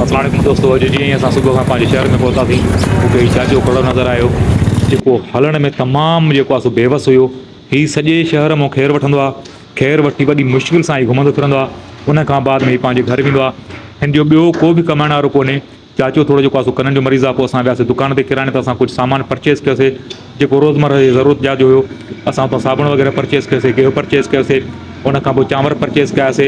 اسان وٽ دوستو اڄ جيئن ئي اسان صبح کان پنهنجي شهر ۾ پهتاسين، مون کي هي چاچو کڙو نظر آيو، جيڪو هلڻ ۾ تمام جيڪو آهي سو بيوس هيو. هي سڄي شهر مان خير وٺندو آهي. خير وٺي وڏي مشڪل سان هي گهمندو ڦرندو آهي. ان کان بعد ۾ هي پنهنجي گهر ويندو آهي. هن جو ٻيو ڪو به ڪمائڻ وارو ڪونهي. چاچو ٿورو جيڪو آهي سو ڪنن جو مريض آهي. پوء اسان وياسي دڪان تي ڪراڻي تان اسان ڪجهه سامان پرچيز ڪيوسي. جيڪو روزمره جي ضرورت جا جو هيو اسان اتان صابڻ وغيره پرچيز ڪيوسي گيهه پرچيز ڪيوسي ان کان پوء چانور پرچيز ڪياسي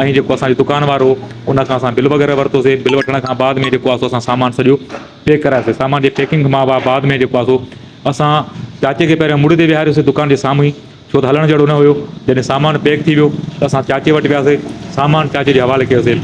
۽ جيڪو اسان جو دڪان وارو هو ان کان اسان بل وغيره ورتوسي بل وٺڻ کان بعد ۾ جيڪو آهي سو اسان سامان سڄو پيڪ ڪرايوسي سامان جي پيڪنگ کان بعد ۾ جيڪو آهي سو اسان چاچي کي پهريان مڙهه تي ويهاريوسي دڪان جي سامهون ئي ڇو ته هلڻ جهڙو نه هيو. جڏهن سامان پيڪ ٿي ويو ته اسان چاچي وٽ وياسي. سامان چاچي جي حوالي ڪيوسي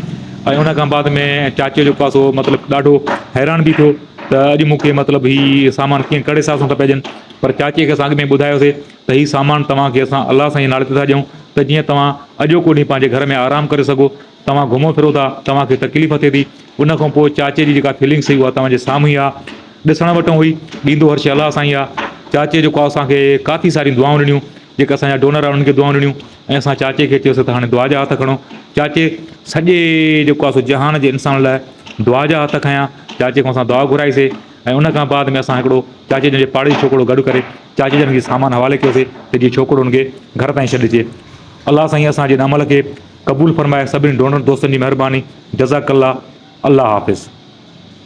۽ ان کان بعد ۾ چاچي جو پاسو مطلب ڏاڍو حيران به ٿيو ته اڄ مون کي مطلب هي سامان ڪيئن ڪهڙي حساب سان ٿا پئجن پر چاچي کي اسان اڳ ۾ ٻڌايوسي ته هي سامان توهان کي اسان الله سائين جي نالي تي ٿا ڏيون ته جيئن توهان اڄوڪو ڏينهن پنهنجي گهر ۾ آرام ڪري سگهو. توهان گهمو ڦرو ٿا، توهان کي تڪليف ٿئي ٿي. ان کان پوء چاچي جي جيڪا فيلنگس هئي اها توهان جي سامهون ئي آ. ڏسڻ وٽون هئي، ڏيندو هر شيء الله سائين آ. چاچي جيڪو آ اسان کي ڪافي ساريون دعائون ڏنيون. جيڪي اسان جا ڊونر آ انهن کي دعائون ڏنيون ۽ اسان چاچي کي چيوسين ته هاڻي دعا جا هٿ کڻو. چاچي سڄي جيڪو آ سو جهان جي انسانن لاء دعا جا هٿ کنيا. چاچي کان اسان دعا گهرائي سي ۽ ان کان بعد ۾ اسان هڪڙو چاچي جن جي پاڙي ڇوڪرو گڏ ڪري چاچي جن کي سامان حوالي ڪيوسي ته جي ڇوڪرو انهن کي گهر تائين ڇڏجي. الله سائين اسان جي ان عمل کي قبول فرمائي سڀني ڊونر دوستن جي مھرباني جزاڪ الله الله حافظ.